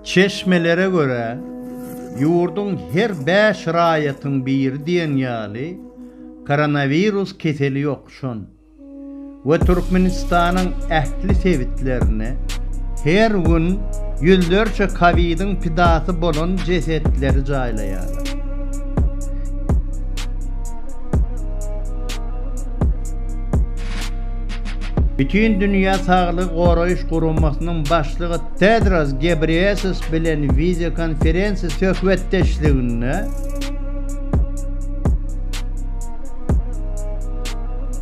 Çeşmelere görä, ýurduň her bäş raýatyň biri diýen ýaly koronawirus keseli ýokuşan we Türkmenistanyň ähli sebitlerine her gün ýüzlerçe kowidiň pidasy bolan jesetleri jaýlaýarlar. Bütindünýä Saglygy Goraýyş Guramasynyň başlygy Tedros Gebreýesus bilen wideokonferensiýa söhbetdeşliginde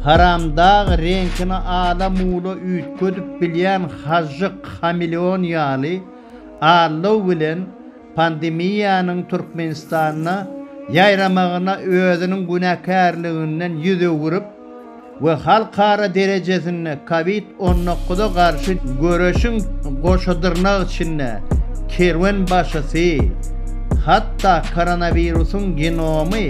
Haramdag reňkini ala mula üýtgedip bilýän hažžyk, hameleon ýaly, allow bilen pandemiýanyň Türkmenistanda ýaýramagyna özüniň günäkärliginden ýüz öwürip we halkara derejesinde Covid on dokuza garşy göreşiň goşadyrnak içinde kerwenbaşysy, hatda koronawirusyň genomy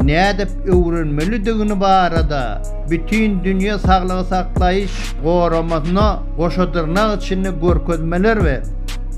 nädip öwrenmelidigini barada Bütindünýä saglygy saklaýyş goramasyna goşadyrnak içinde görkezmeler berdi.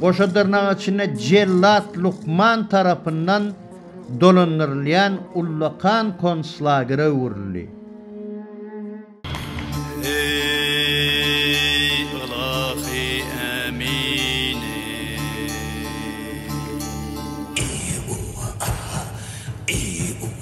Goşa dyrnagyň içinde jellat lukman tarapyndan dolandyrylýan ullakan konslagere öwrüldi. Eý, ylahy Ämini! Eý, uwwa, aha! Eý, uwwa,